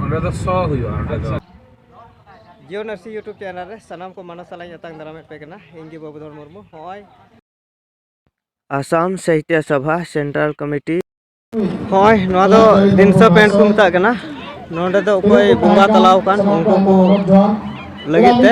ᱚᱸᱰᱮ ᱫᱚ ᱥᱚ ᱦᱩᱭᱩᱜᱼᱟ ᱚᱸᱰᱮ ᱫᱚ ᱡᱤᱭᱳ ᱱᱟᱨᱥᱤᱝ ᱤᱭᱩᱴᱩᱵᱽ ᱪᱮᱱᱮᱞ ᱨᱮ ᱥᱟᱱᱟᱢ ᱠᱚ ᱢᱟᱱᱟ ᱥᱟᱞᱟᱜ ᱟᱛᱟᱝ ᱫᱟᱨᱟᱢᱮᱫ ᱯᱮ ᱠᱟᱱᱟ ᱤᱧ ᱜᱮ ᱵᱟᱵᱩᱫᱷᱚᱨ ᱢᱩᱨᱢᱩ ᱦᱚᱸᱜᱼᱚᱭ ᱟᱥᱟᱢ ᱥᱟᱦᱤᱛᱭᱚ ᱥᱚᱵᱷᱟ ᱥᱮᱱᱴᱨᱟᱞ ᱠᱚᱢᱤᱴᱤ ᱦᱚᱸᱜᱼᱚᱭ ᱱᱚᱣᱟ ᱫᱚ ᱫᱤᱱᱥᱟ ᱯᱮᱱᱴ ᱠᱚ ᱢᱮᱛᱟᱜ ᱠᱟᱱᱟ ᱱᱚᱰᱮ ᱫᱚ ᱚᱠᱚᱭ ᱵᱚᱸᱜᱟ ᱛᱟᱞᱟᱣ ᱟᱠᱟᱱ ᱩᱱᱠᱩ ᱠᱚ ᱞᱟᱹᱜᱤᱫ ᱛᱮ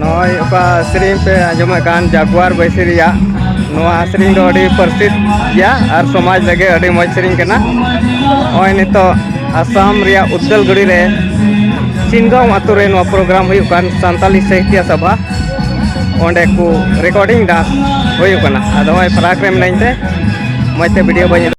ᱱᱚᱜᱼᱚᱭ ᱚᱠᱟ ᱥᱮᱨᱮᱧ ᱯᱮ ᱟᱸᱡᱚᱢᱮᱫ ᱠᱟᱱ ᱡᱟᱜᱩᱣᱟᱨ ᱵᱟᱹᱭᱥᱤ ᱨᱮᱭᱟᱜ ᱱᱚᱣᱟ ᱥᱮᱨᱮᱧ ᱫᱚ ᱟᱹᱰᱤ ᱯᱟᱹᱨᱥᱤᱫ ᱜᱮᱭᱟ ᱟᱨ ᱥᱚᱢᱟᱡᱽ ᱞᱟᱹᱜᱤᱫ ᱟᱹᱰᱤ ᱢᱚᱡᱽ ᱥᱮᱨᱮᱧ ᱠᱟᱱᱟ ᱱᱚᱜᱼᱚᱭ ᱱᱤᱛᱚᱜ ᱟᱥᱟᱢ ᱨᱮᱭᱟᱜ ᱩᱫᱽᱫᱟᱞᱜᱩᱲᱤ ᱨᱮ ᱪᱤᱱᱜᱟᱢ ᱟᱛᱳ ᱨᱮ ᱱᱚᱣᱟ ᱯᱨᱳᱜᱨᱟᱢ ᱦᱩᱭᱩᱜ ᱠᱟᱱ ᱥᱟᱱᱛᱟᱞᱤ ᱥᱟᱦᱤᱛᱭᱚ ᱥᱚᱵᱷᱟ ᱚᱸᱰᱮ ᱠᱚ ᱨᱮᱠᱚᱨᱰᱤᱝ ᱰᱟᱱᱥ ᱦᱩᱭᱩᱜ ᱠᱟᱱᱟ ᱟᱫᱚ ᱱᱚᱜᱼᱚᱭ ᱯᱷᱟᱨᱟᱠ ᱨᱮ ᱢᱤᱱᱟᱹᱧ ᱛᱮ ᱢᱚᱡᱽ ᱛᱮ ᱵᱷᱤᱰᱤᱭᱳ ᱵᱟᱹᱧ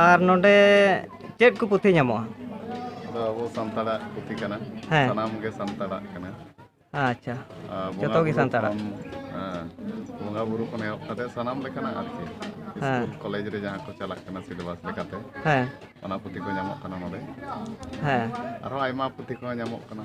ᱟᱨ ᱱᱚᱰᱮ ᱪᱮᱫ ᱠᱚ ᱯᱩᱛᱷᱤ ᱧᱟᱢᱚᱜᱼᱟ ᱫᱚ ᱟᱵᱚ ᱥᱟᱱᱛᱟᱲᱟᱜ ᱯᱩᱛᱷᱤ ᱠᱟᱱᱟ ᱦᱮᱸ ᱥᱟᱱᱟᱢ ᱜᱮ ᱥᱟᱱᱛᱟᱲᱟᱜ ᱠᱟᱱᱟ ᱟᱪᱪᱷᱟ ᱟᱨ ᱵᱚᱸᱜᱟ ᱡᱚᱛᱚ ᱜᱮ ᱵᱩᱨᱩ ᱥᱟᱱᱛᱟᱲᱟᱜ ᱠᱷᱚᱱ, ᱦᱮᱸ, ᱵᱚᱸᱜᱟ ᱵᱩᱨᱩ ᱠᱷᱚᱱ ᱮᱦᱚᱵ ᱠᱟᱛᱮ ᱥᱟᱱᱟᱢ ᱞᱮᱠᱟᱱᱟᱜ ᱟᱨᱠᱤ ᱦᱮᱸ ᱤᱥᱠᱩᱞ ᱠᱚᱞᱮᱡᱽ ᱨᱮ ᱡᱟᱦᱟᱸ ᱠᱚ ᱪᱟᱞᱟᱜ ᱠᱟᱱᱟ ᱥᱤᱞᱮᱵᱟᱥ ᱞᱮᱠᱟᱛᱮ ᱦᱮᱸ ᱚᱱᱟ ᱯᱩᱛᱷᱤ ᱠᱚ ᱧᱟᱢᱚᱜ ᱠᱟᱱᱟ ᱱᱚᱰᱮ ᱦᱮᱸ ᱟᱨᱦᱚᱸ ᱟᱭᱢᱟ ᱯᱩᱛᱷᱤ ᱠᱚᱦᱚᱸ ᱧᱟᱢᱚᱜ ᱠᱟᱱᱟ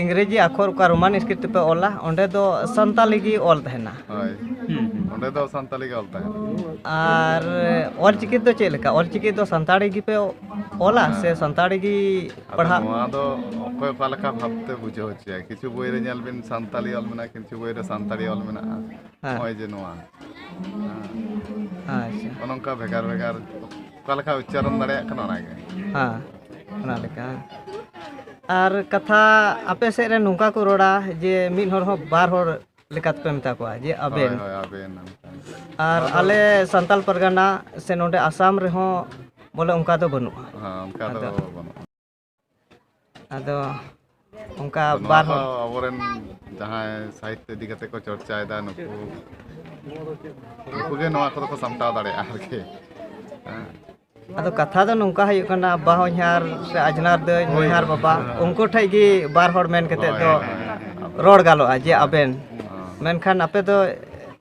ᱤᱝᱨᱮᱡᱤ ᱟᱠᱷᱚᱨ ᱚᱠᱟ ᱨᱳᱢᱟᱱ ᱥᱠᱨᱤᱯᱴ ᱛᱮᱯᱮ ᱚᱞᱟ ᱚᱸᱰᱮ ᱫᱚ ᱥᱟᱱᱛᱟᱞᱤ ᱜᱮ ᱚᱞ ᱛᱟᱦᱮᱱᱟ ᱦᱳᱭ ᱚᱸᱰᱮ ᱫᱚ ᱥᱟᱱᱛᱟᱞᱤ ᱜᱮ ᱚᱞ ᱛᱟᱦᱮᱱᱟ ᱟᱨ ᱚᱞ ᱪᱤᱠᱤ ᱫᱚ ᱪᱮᱫ ᱞᱮᱠᱟ ᱚᱞ ᱪᱤᱠᱤ ᱫᱚ ᱥᱟᱱᱛᱟᱲᱤ ᱜᱮᱯᱮ ᱚᱞᱟ ᱥᱮ ᱥᱟᱱᱛᱟᱲᱤ ᱜᱮ ᱯᱟᱲᱦᱟᱜ ᱱᱚᱣᱟ ᱫᱚ ᱚᱠᱚᱭ ᱚᱠᱟ ᱞᱮᱠᱟ ᱵᱷᱟᱵᱛᱮ ᱵᱩᱡᱷᱟᱹᱣ ᱦᱚᱪᱚᱭᱟ ᱠᱤᱪᱷᱩ ᱵᱳᱭ ᱨᱮ ᱧᱮᱞ ᱵᱤᱱ ᱥᱟᱱᱛᱟᱞᱤ ᱚᱞ ᱢᱮᱱᱟᱜᱼᱟ ᱠᱤᱪᱷᱩ ᱵᱳᱭ ᱨᱮ ᱥᱟᱱᱛᱟᱲᱤ ᱚᱞ ᱢᱮᱱᱟᱜᱼᱟ ᱱᱚᱜᱼᱚᱭ ᱡᱮ ᱱᱚᱣᱟ ᱟᱪᱪᱷᱟ ᱱᱚᱝᱠᱟ ᱵᱷᱮᱜᱟᱨ ᱵᱷᱮᱜᱟᱨ ᱚᱠᱟ ᱞᱮᱠᱟ ᱩᱪᱪᱟᱨᱚᱱ ᱫᱟᱲᱮᱭᱟᱜ ᱠᱟᱱᱟ ᱚᱱᱟᱜᱮ ᱦᱮᱸ ᱚᱱᱟ ᱞᱮᱠᱟ ᱟᱨ ᱠᱟᱛᱷᱟ ᱟᱯᱮ ᱥᱮᱫ ᱨᱮ ᱱᱚᱝᱠᱟ ᱠᱚ ᱨᱚᱲᱟ ᱡᱮ ᱢᱤᱫ ᱦᱚᱲ ᱦᱚᱸ ᱵᱟᱨ ᱦᱚᱲ ᱞᱮᱠᱟᱛᱮᱯᱮ ᱢᱮᱛᱟ ᱠᱚᱣᱟ ᱡᱮ ᱟᱵᱮᱱ ᱦᱳᱭ ᱟᱵᱮᱱ ᱟᱨ ᱟᱞᱮ ᱥᱟᱱᱛᱟᱞ ᱯᱟᱨᱜᱟᱱᱟ ᱥᱮ ᱱᱚᱰᱮ ᱟᱥᱟᱢ ᱨᱮᱦᱚᱸ ᱵᱚᱞᱮ ᱚᱱᱠᱟ ᱫᱚ ᱵᱟᱹᱱᱩᱜᱼᱟ ᱦᱮᱸ ᱚᱱᱠᱟ ᱫᱚ ᱵᱟᱹᱱᱩᱜᱼᱟ ᱟᱫᱚ ᱚᱱᱠᱟ ᱵᱟᱨ ᱦᱚᱲ ᱟᱵᱚᱨᱮᱱ ᱡᱟᱦᱟᱸᱭ ᱥᱟᱦᱤᱛᱛᱚ ᱤᱫᱤ ᱠᱟᱛᱮ ᱠᱚ ᱪᱚᱨᱪᱟᱭᱮᱫᱟ ᱱᱩᱠᱩ ᱱᱩᱠᱩ ᱜᱮ ᱱᱚᱣᱟ ᱠᱚᱫᱚ ᱠᱚ ᱥᱟᱢᱴᱟᱣ ᱫᱟᱲᱮᱭᱟᱜᱼᱟ ᱟᱨᱠᱤ ᱟᱫᱚ ᱠᱟᱛᱷᱟ ᱫᱚ ᱱᱚᱝᱠᱟ ᱦᱩᱭᱩᱜ ᱠᱟᱱᱟ ᱟᱵᱟ ᱦᱚᱧᱦᱟᱨ ᱥᱮ ᱟᱡᱽᱱᱟᱨ ᱫᱟᱹᱭ ᱦᱚᱧᱦᱟᱨ ᱵᱟᱵᱟ ᱩᱱᱠᱩ ᱴᱷᱮᱡ ᱜᱮ ᱵᱟᱨ ᱦᱚᱲ ᱢᱮᱱ ᱠᱟᱛᱮ ᱫᱚ ᱨᱚᱲ ᱜᱟᱱᱚᱜᱼᱟ ᱡᱮ ᱟᱵᱮᱱ ᱢᱮᱱᱠᱷᱟᱱ ᱟᱯᱮ ᱫᱚ